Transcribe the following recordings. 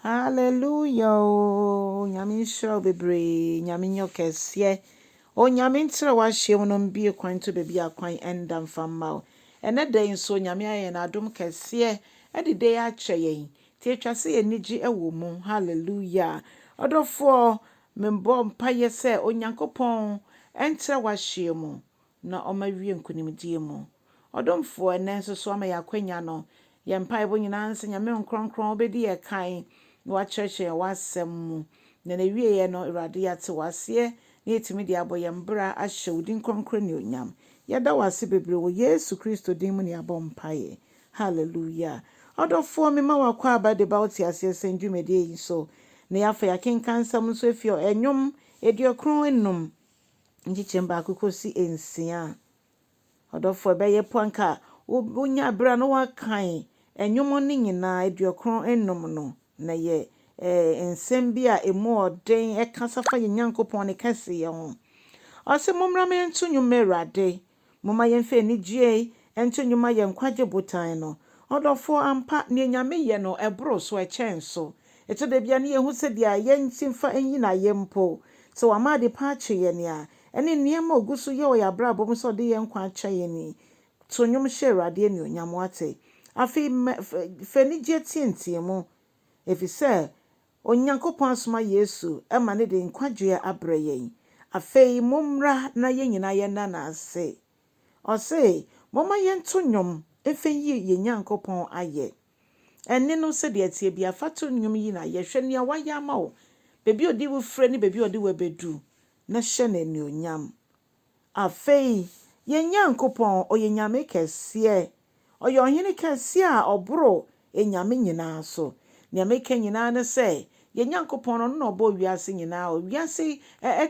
Hallelujah oo Nyame nhyira wo bebree Nyame nyɛ wo kɛseɛ Onyame ntra w'ahyeɛm no mbue kwan nto baabi a kwan nda mfa mma wo Ɛnɛ da yi nso Nyame ayɛ yɛn adom kɛseɛ ɛde da yi akyɛ yɛn nti ɛtwa sɛ yɛn ani gye wɔ mu Hallelujah Ɔdɔfoɔ mebɔ mpaeɛ sɛ Onyankopɔn ntra w'ahyeɛm na ɔma wie nkonimdie mu. Ɔdomfoɔ, ɛnnɛ nso so ama yɛn akwanya no, yɛn mpaebɔ nyinaa ne sɛ Nyame Nkrɔnkrɔn wobɛdi yɛn kan na wakyerɛkyerɛ yɛn w'asɛm mu, na n'awieɛ no Awurade yɛate w'aseɛ na yɛatumi de abɔ yɛn bra ahyɛ wo din kronkron anuonyam. Yɛda wo ase bebree wɔ Yesu Kristo din mu na yɛabɔ mpaeɛ. Hallelujah. Ɔdɔfoɔ, mema wo akwaaba de ba wo teaseɛ sɛn dwumadie yi so, na yɛafa yɛn akenkansɛm nso afiri ɔ, Nnwom aduokron nnum, nkyekyɛm baako kɔsi nsia a, ɔdɔfoɔ ɛbɛyɛ po anka wonya berɛ a na woakan nnwom no nyinaa aduokron nnum no na yɛ nsɛm bi a ɛmu ɔden ɛkasa fa yɛ Nyankopɔn ne kɛseyɛ ho. Ɔse mommra me nto nnwom ma Awurade Momma yɛmfa anigyie nto nnwuma yɛn nkwagye botan no. Ɔdɔfoɔ, ampa, deɛ Nyame yɛ no boro so, ɛkyɛn so. Ɛtɔ da bi a na yɛhu sɛ deɛ yɛn nsi mfa nyin ayɛ mpo, sɛ wama adepa akye yɛn a, ɛne nneɛma a ɔgu so yɛ wɔ yɛn abrabɔ mu sɛ ɔde yɛn nkwa akyɛ yɛn yi. To nnwom hyɛ Awurade anuonyam, woate? Afei, ma, fa, fa anigyeɛ teatea mu, ɛfiri sɛ Onyankopɔn asoma Yesu ma no de nkwagyeɛ abrɛ yɛn. Afei mommra na yɛn nyinaa yɛnna no ase. Ɔse, Momma yɛnto nnwom mfa nyi yɛn Nyankopɔn ayɛ. Ɛnne no sɛdeɛ ɛteɛ biara, fa to nnwom yi na yɛ. Hwɛ nea wayɛ ama wo, baabi a ɔde wo fire ne baabi a ɔde wo abɛdu, na hyɛ no anuonyam. Afei, yɛn Nyankopɔn, ɔyɛ Nyame kɛseɛ. Ɔyɛ Ɔhene kɛse a ɔboro anyame nyinaa so. Nea meka nyinaa ne sɛ, yɛn Nyankopɔn no, ɔno na ɔbɔɔ wiase nyinaa. Wiase yi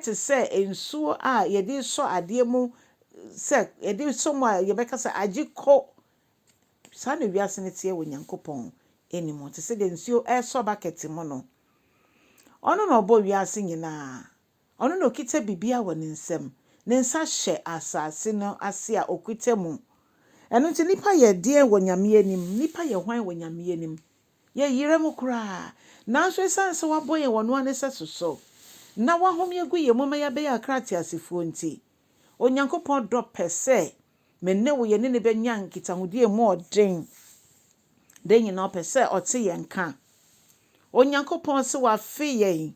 te sɛ nsuo a yɛde sɔ adeɛ mu, sɛ yɛde sɔ mu a yɛbɛka sɛ, Agye kɔ! Saa na wiase no teɛ wɔ Nyankopɔn anim, te sɛ deɛ nsuo resɔ bakɛte mu no. Ɔno na ɔbɔɔ wiase nyinaa. Ɔno na okita biribiara wɔ ne nsam. Ne nsa hyɛ asase no ase a okita mu. Ɛno nti nnipa yɛ deɛn wɔ Nyame anim? Nnipa yɛ hwan wɔ Nyame anim? Yɛyera mu koraa. Nanso esiane sɛ wabɔ yɛn wɔ noa ne sɛso so, na wahome agu yɛn mu ma yɛabɛyɛ akra ateasefoɔ nti, Onyankopɔn dɔ pɛ sɛ me ne wo yɛne no bɛnya nkitahodie a mu ɔden. Da nyinaa ɔpɛ sɛ ɔte yɛn nka. Onyankopɔn se wafe yɛn.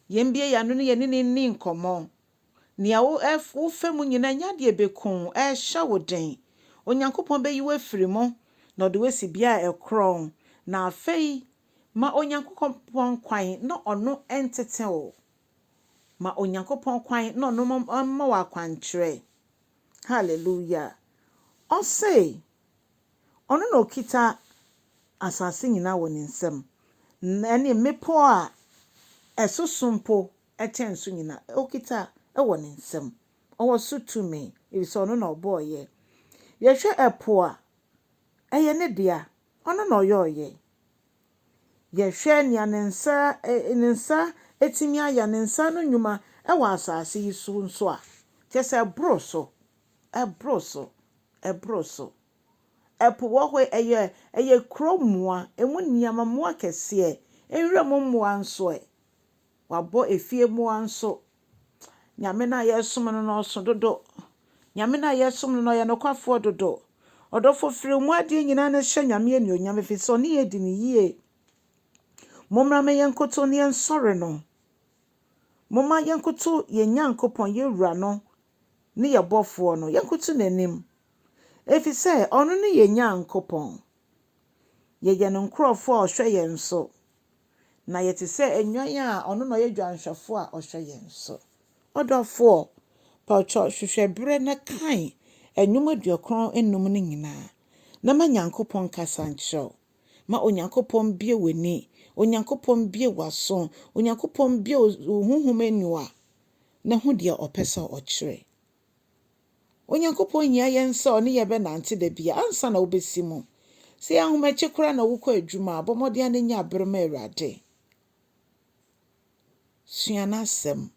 Yɛmbue yɛn ano na yɛne no nni nkɔmmɔ. Nea wo ɛ wofa mu nyinaa, nya deɛ ɛbɛku wo, ɛrehyɛ wo den. Onyankopɔn bɛyi wo afiri mu, na ɔde wo asi bea a ɛkorɔn. Na afei, ma Onyankokɔpɔn kwan na ɔno ntete wo. Ma Onyankopɔn kwan na ɔno mom mma wo akwankyerɛ. Hallelujah! Ɔse. Ɔno na okita asase nyinaa wɔ ne nsam, ne mmepɔw a ɛsoso mpo kyɛn so nyinaa, okita wɔ ne nsam. Ɔwɔ so tumi, efisɛ ɔno na ɔbɔɔ yɛn. Yɛhwɛ ɛpo a, ɛyɛ ne dea, ɔno na ɔyɔɔ yɛn. Yɛhwɛ nea ne nsa ne nsa atumi ayɛ, ne nsa ano nnwuma wɔ asase yi so nso a, kyerɛ sɛ ɛboro so. Ɛboro so, ɛboro so. Ɛpo wɔ hɔ, ɛyɛ, ɛyɛ kuro mmoa, ɛmu nneɛma, mmoa kɛseɛ. Nwura mu mmoa nso ɛ? Wabɔ efie mmoa nso. Nyame no a yɛresom no no, ɔso dodo. Nyame no a yɛresom no no, ɔyɛ nokwafoɔ dodo. Ɔdɔfo, firi mo adeɛ nyinaa na hyɛ Nyame anuonyam, ɛfiri sɛ ɔne yɛn di no yie. Mommra ma yɛnkoto na yɛnsɔre no. Momma yɛnkoto yɛn Nyankopɔn, yɛn Wura no, ne yɛn Bɔfoɔ no, yɛnkoto N'anim, efisɛ Ɔno ne yɛn Nyankopɔn. Yɛyɛ Ne nkorɔfoɔ a Ɔhwɛ yɛn so, na yɛte sɛ nnwan a Ɔno na Ɔyɛ Dwanhwɛfoɔ a Ɔhwɛ yɛn so. Ɔdɔfoɔ, paatwa hwehwɛ berɛ na kan nnwom aduokron nnum no nyinaa, na ma Nyankopɔn nkasa nkyerɛ wo. Ma Onyankopɔn mbue w'ani, Onyankopɔn mbue w'aso, Onyankopɔn mbue wo honhom aniwa. no ho deɛ ɔpɛ sɛ ɔkyerɛ. Onyankopɔn hia yɛn sɛ ɔne yɛn bɛnante da biara ansa na wobɛsi mu. Sɛ ɛyɛ ahomakye koraa na wokɔ adwuma a, bɔ mmɔden ara na nya bere ma Awurade. Sua n'asɛm.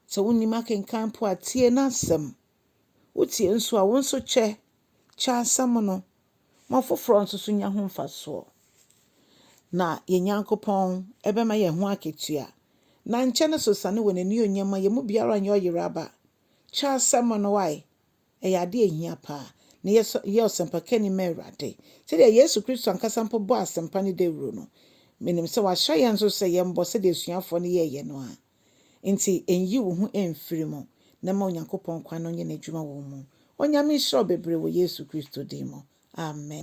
Sɛ wonnim akenkan mpo a, tie n'asɛm. Wotie nso a, wo nso kyɛ. Kyɛ asɛm no, ma afoforɔ nso so nya ho mfasoɔ. Na yɛn Nyankopɔn bɛma yɛn ho akatua. Na nkyɛ ne so sane wɔ n'anuonyam ma yɛn mu biara nyɛ ɔyeraba. Kyɛ asɛm no, wae, ɛyɛ adeɛ a ɛhia pa ara. Na yɛ so, yɛ ɔsɛmpakani ma Awurade. Sɛdeɛ Yesu Kristo ankasa mpo bɔɔ asɛmpa no dawuro no, menim sɛ wahyɛ yɛn nso sɛ yɛmmɔ sɛdeɛ asuafoɔ no yɛeɛ no ara. Ntsi nnyi wo ho mmfir mu na ma Onyankopɔn kwan no nyɛ n'edwuma wɔ wo mu. Onyame nhyira wo beberee wɔ Yesu Kristo din mu, amen.